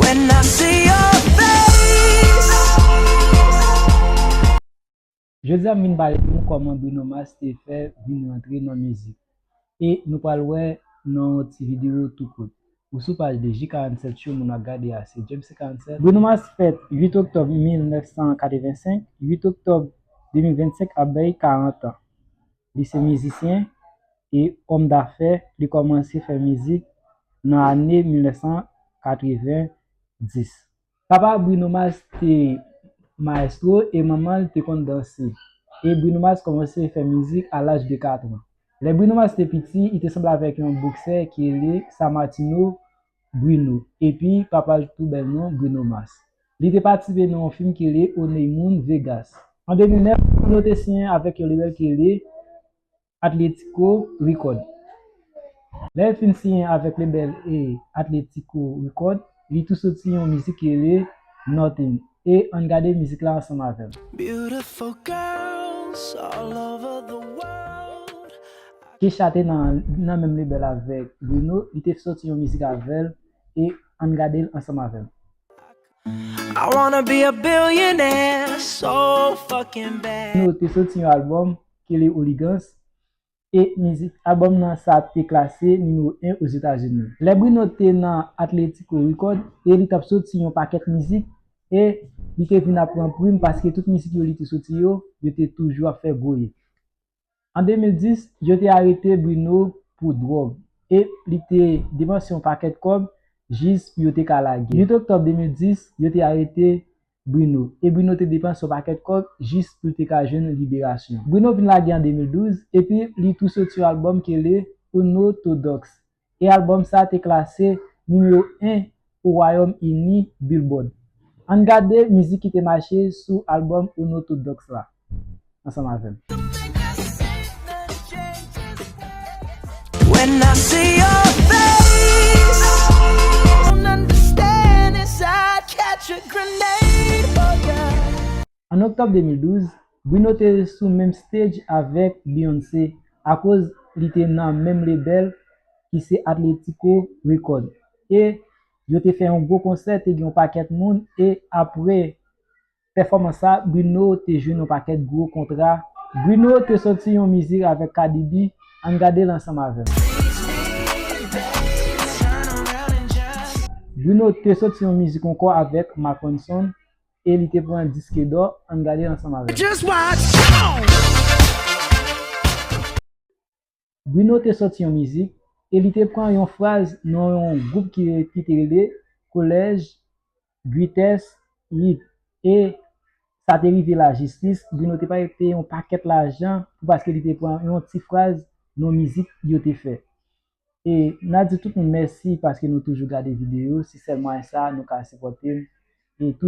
When I see your face. Jodi a m vin pale pou nou kòman Bruno Mars te fè vin rantre nan mizik e nou pral wè nan yon ti videyo tou kout. Ou sou paj 2 ji 47 show moun ap gade a se James se 47. Bruno Mars fèt 8 oktòb 1985, 8 oktòb 2025 ap bay 40 an. Li se mizisyen e òm dafè, li kòmanse fè mizik nan ane 1990. Papa Bruno Mars te maestro e manman l te konn danse, e Bruno Mars kòmanse fè mizik a laj de 4 an. Lè Bruno Mars te piti, li te sanble avèk yon boksè ki rele Sammartino Bruno, epi papa l t pou bèl non Bruno Mars. Li te patisipe nan yon fim ki rele Oney Moun Vegas. An 2009, Bruno te siyen avèk yon lebèl ki rele Atlético Record. Lè l fin siyen avèk lebèl Atlético Record, li tou soti yon mizik ki rele Nothing. E ann gade mizik la ansanm avè m. Beautiful girls all over the world I. Kesha te nan menm lebèl avèk Bruno, li te sòti yon mizik avè l e ann gade l ansanm avè m. I wanna be a billionaire so fuckin bad. Bruno te sòti yon albòm Kele Oligans e mizik albòm nan sa te klase nimewo 1 Ozetazini. Lè Bruno te nan Atlético Record e li t ap soti yon pakèt mizik e li te vin ap pran prim paske tout mizik yo li te soti yo, yo te toujou ap fè gwo hit. An 2010, yo te arete Bruno pou dwòg e li te depanse yon pakèt kòb jis pou yo te ka lage. 8 oktòb 2010, yo te arete Bruno, e Bruno te depanse yon pakèt kòb jis pou l te ka jwenn liberasyon. Bruno vin lage an 2012, epi li tou soti yon albòm ki rele Unorthodox, e albòm sa te klase nimewo 1 pou Wayòm Ini Billboard. Ann gade mizik ki te mache sou albòm Unorthodox la. ansanm avè m. An Oktòb 2012, Bruno te sou menm stage avèk Beyoncé akoz li te nan menm lebèl ki se Atlético Record e yo te fè yon gwo konsè te gen yon pakèt moun e apre pèfòmans sa Bruno te jwenn yon pakèt gwo kontra Bruno te sòti yon mizik avèk Cardi B ann gadel ansanm avèm. Bruno te sòti yon mizik ankò avèk Marc Ronson e li te pran diske dò ann gadel ansanm avèm. Bruno te sòti yon mizik e li te pran yon fraz nan yon gwoup ki ki te rele Collège Guytesse Hit e sa te rive lajistis, Bruno te pare peye yon pakèt lajan pou paske li te pran yon ti fraz nan mizik yo te fè. E na di tout moun mèsi paske nou toujou gade videyo, se sèl mwayen sa nou ka sipòte m e tou.